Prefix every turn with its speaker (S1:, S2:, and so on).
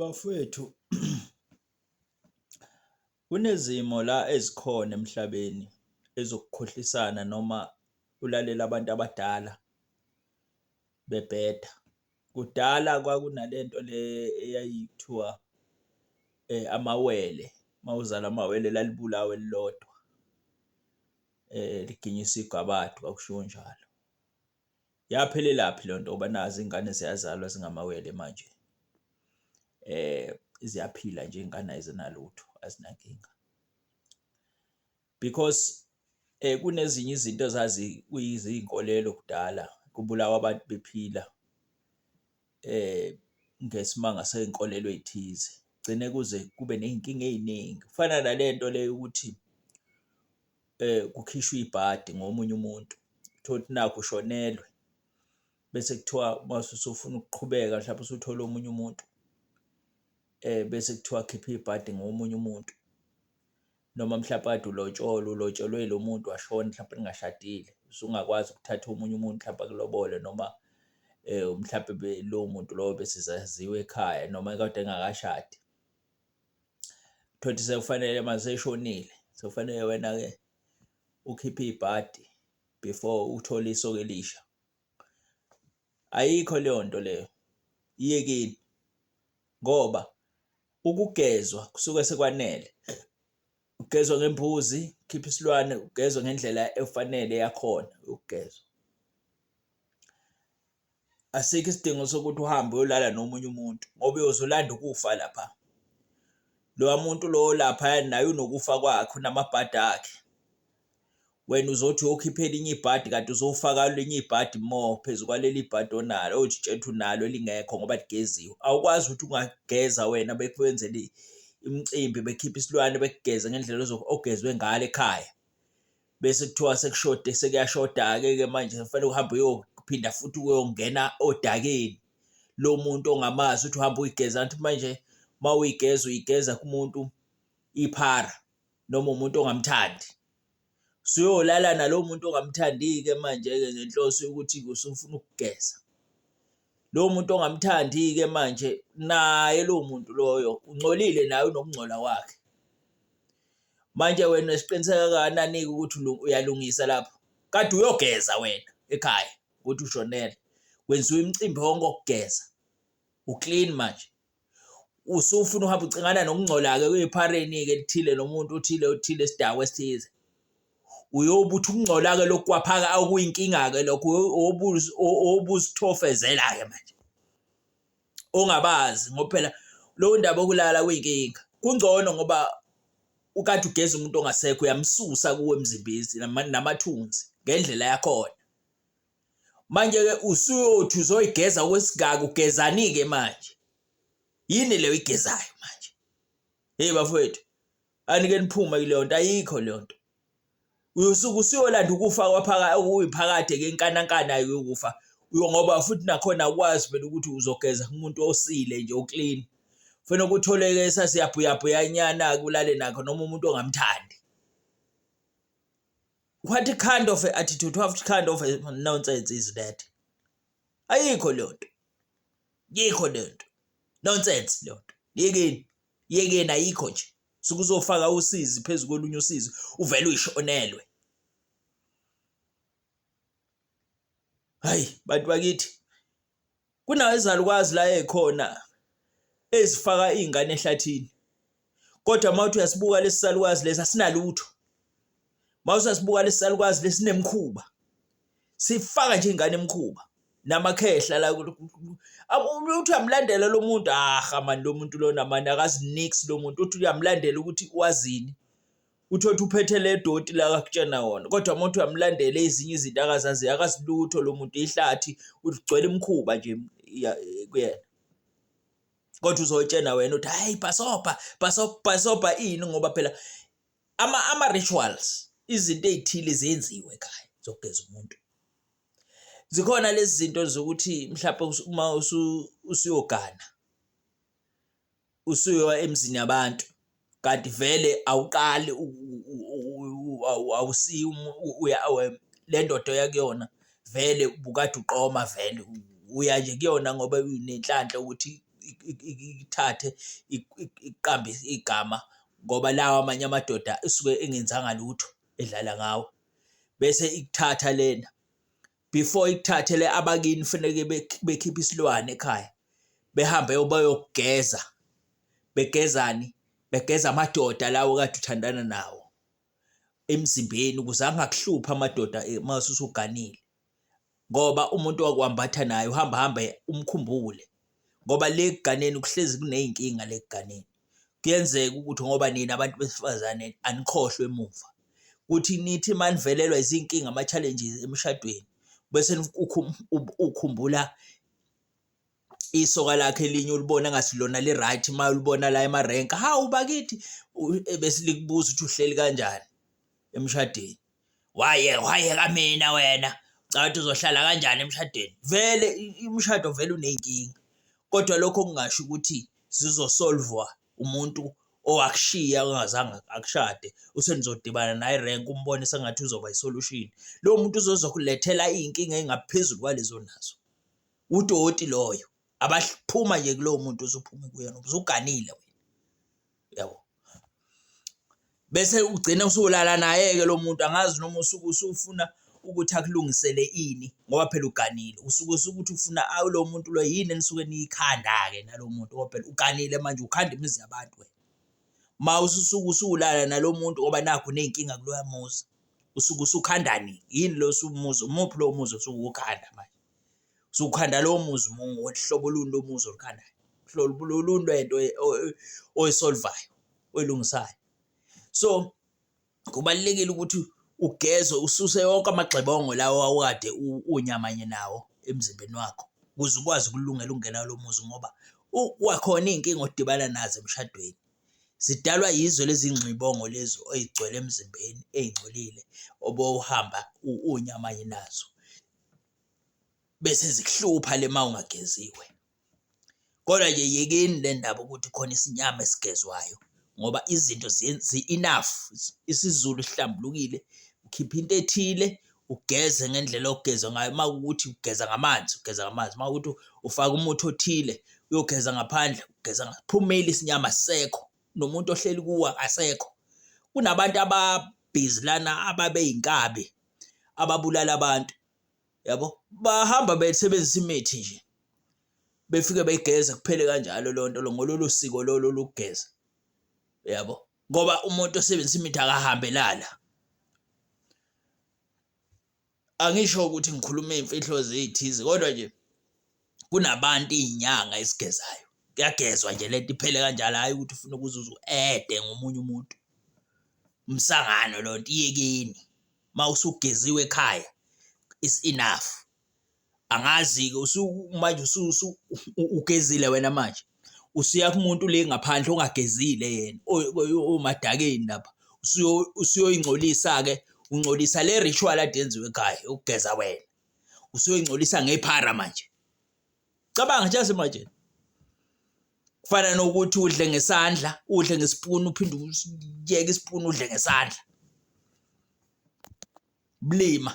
S1: Bafwethu kunezimo la ezikhona emhlabeni ezokukhohlisana noma ulalela abantu abadala bebheda kudala kwakunalento le eyayithiwa amawele mawuzala amawele lalibulawa elilodwa liginyisa igabade kwakushiwo njalo. yaphelelaphi lento ngoba nazi ingane ziyazalwa zingamawele manje eh ziyaphila nje ingane ayizinalutho azinankinga because eh kunezinye izinto zazi kuyizinkolelo kudala kubulawa abantu bephila eh ngesimanga senkolelo ethize gcine kuze kube nezinkinga eziningi kufana nalento leyo ukuthi eh, kukhishwa ibhadi ngomunye umuntu kuthiwa ukuthi nakho ushonelwe bese kuthiwa mase usufuna ukuqhubeka mhlawumbe usuthole omunye umuntu eh bese kuthiwa khipha ibhadi ngomunye umuntu noma mhlawumbe kade ulotsholwe ulotsholwe lo muntu washona mhlawumbe ningashadile usungakwazi ukuthatha omunye umuntu mhlawumbe akulobole noma eh mhlawumbe lo muntu lowo besizaziwe ekhaya noma kade engakashadi thothi sekufanele maseshonile sekufanele wena ke ukhiphe ibhadi before uthole isoke elisha ayikho leyo nto leyo iyekini ngoba ukugezwa kusuke sekwanele ugezwa ngembuzi khipha isilwane ugezwa ngendlela efanele yakhona ukugezwa asikho isidingo sokuthi uhambe uyolala nomunye umuntu ngoba uyozolanda ukufa lapha lowa muntu lowo lapha naye unokufa kwakhe unamabhadi akhe wena uzothi uyokhipha elinye ibhadi kanti uzofaka elinye ibhadi mo phezu kwaleli bhadi onalo othi tshethu nalo elingekho ngoba ligeziwe awukwazi ukuthi ungageza wena bekwenzele imicimbi bekhipha isilwane bekugeze ngendlela ogezwe ngalo ekhaya bese kuthiwa sekushode sekuyashoda-ke ke manje kufanele uhambe uyophinda futhi uyongena odakeni lo muntu ongamazi uthi uhamba uyigeza anti manje uma uyigeza uyigeza kumuntu iphara noma umuntu ongamthandi suyolala nalowo muntu ongamthandi-ke manje-ke ngenhloso yokuthi usufuna ukugeza lowo muntu ongamthandi-ke manje naye lowo muntu loyo ungcolile naye unokungcola kwakhe manje wena siqiniseka kanani-ke ukuthi uyalungisa lapho kade uyogeza wena ekhaya ukuthi ushonele kwenziwa imicimbi wonke okugeza uclean manje usufuna uhamba ucingana nokungcola-ke kuyiphareni-ke lithile nomuntu uthile uthile isidakwa esithize uyobuthi ukungcola-ke lokhu kwaphaka okuyinkinga-ke lokhu obuzithofezela-ke manje ongabazi ngoba phela lowo ndaba okulala kuyinkinga kungcono ngoba ukade ugeza umuntu ongasekho uyamsusa kuwe emzimbezi namathunzi ngendlela yakhona manje-ke usuyothi uzoyigeza kwesigaka ugezani-ke manje yini leyo igezayo manje heyi bafowethu anike niphume kuleyo nto ayikho leyo nto uyosuke usuyolanda ukufa kwaphaka okuyiphakade ke inkanankana yokufa uyo ngoba futhi nakhona ukwazi phela ukuthi uzogeza umuntu osile nje uclean fanele ukutholeke sasiyabhuyabhuyanyana kulale nakho noma umuntu ongamthandi what kind of attitude what kind of nonsense is that ayikho leyo nto yikho leyo nto nonsense leyo nto yekeni yekeni ayikho nje sukuzofaka usizi phezulu kolunye usizi uvele uyishonelwe hayi bantu bakithi Kunawo izalukwazi la ekhona ezifaka izingane ehlathini. Kodwa mawuthi uyasibuka lesisalukwazi lesi asinalutho. Mawuthi uyasibuka lesisalukwazi lesinemkhuba. Sifaka nje ingane emkhuba namakhehla la uthi uyamlandela lo muntu aha mani lo muntu lona mani akazi nix lo muntu uthi uyamlandela ukuthi wazini uthothi uphethe le doti la akakutshena wona kodwa uma uthi uyamlandela ezinye izinto akazazi akasilutho lo muntu ihlathi ugcwele imkhuba nje kuyena kodwa uzotshena wena uthi hayi bhasobha bhasobha bhasobha ini ngoba phela ama ama rituals izinto ezithile zenziwe ekhaya zokugeza umuntu zikhona lezi zinto zokuthi mhlawumbe uma usuyogana usuyowa emzini yabantu kanti vele awuqali awusiyi le ndoda oya kuyona vele ubukade uqoma vele uya nje kuyona ngoba unenhlanhla ukuthi ikuthathe ikuqambe igama ngoba lawa amanye amadoda esuke engenzanga lutho edlala ngawe bese ikuthatha lena. before ikuthathele abakini faneke bekhiphe isilwane ekhaya behambe bayogeza begezani begeza amadoda lawo kade uthandana nawo emzimbeni ukuze angakuhluphi amadoda eh, uma usuganile ngoba umuntu wakwambatha naye uhamba hambe umkhumbule ngoba le kuganeni kuhlezi kuneyinkinga le kuganeni kuyenzeka ukuthi ngoba nina abantu besifazane anikhohlwe emuva ukuthi nithi uma nivelelwa izinkinga ama-challenges emshadweni bese ukhumbula isoka lakhe elinye ulibona ngasilona li-right uma ulibona la emarenka hawu bakithi e, besilikubuza ukuthi uhleli kanjani emshadweni Wayeka wayeka mina wena. Ucabanga ukuthi uzohlala kanjani emshadweni? Vele umshado vele uney'nkinga. Kodwa lokho kungasho ukuthi zizosolvwa umuntu owakushiya ongazange akushade usenizodibana naye renke umbone sengathi uzoba isolution lo muntu uzozokulethela iy'nkinga ey'ngaphezulu kwalezo onazo udoti loyo abaphuma nje kulowo muntu usuphuma kuyena ubusuganile wena yabo bese ugcine usulala naye-ke lo muntu angazi noma usuke usufuna ukuthi akulungisele ini ngoba phela uganile usuke usukuthi ufuna awu lo muntu lo yini enisuke niyikhanda-ke nalo muntu ngoba phela uganile manje ukhanda imizi yabantu wena ma ususuke usulala nalo muntu ngoba nakho uney'nkinga kuloya muzi usuke usukhandani yini lo sumuzi umuphi lowo muzi osuke ukhanda manje usukhanda lowo muzi uhlobo oluntu umuzi olukhandayo hlobo oluntu ento oyisolvayo oyilungisayo so kubalulekile ukuthi ugezwe ususe yonke amagxebongo lawo awukade unyamanye nawo emzimbeni wakho ukuze ukwazi ukulungela ukungena kulo muzi ngoba kwakhona iy'nkinga odibana nazo emshadweni zidalwa yizo lezi ngxibongo lezi oyigcwele emzimbeni ey'ngcolile obowuhamba unyamanye nazo bese zikuhlupha le ma ungageziwe kodwa nje yekeni le ndaba ukuthi khona isinyama esigezwayo ngoba izinto zi-enough isizulu sihlambulukile ukhipha into ethile ugeze ngendlela ogeza ngayo uma ukuthi ugeza ngamanzi ugeza ngamanzi uma ukuthi ufaka umuthi othile uyogeza ngaphandle ugeza ngaphumeli isinyama sekho nomuntu ohleli kuwa asekho kunabantu ababhizi lana ababeyinkabi ababulala abantu yabo bahamba besebenzisa imithi nje befike begeze kuphele kanjalo lonto lo ngololu siko lolu lokugeza yabo ngoba umuntu osebenzisa imithi akahambelala angisho ukuthi ngikhuluma imfihlo zithize kodwa nje kunabantu iy'nyanga esigezayo kuyagezwa nje lento iphele kanjalo hhayi ukuthi ufuna ukuze uze u-ede ngomunye umuntu umsangano lo nto iyekeni uma usugeziwe ekhaya is enough angazi-ke manje ugezile wena manje usuya kumuntu le ngaphandle ongagezile yena omadakeni lapha usuyoyingcolisa-ke ungcolisa le ritual ade yenziwe ekhaya ukugeza wena usuyoyingcolisa ngephara manje cabanga nje manje kufana nokuthi udle ngesandla udle ngesipuni uphinde uyeke isipuni udle ngesandla blima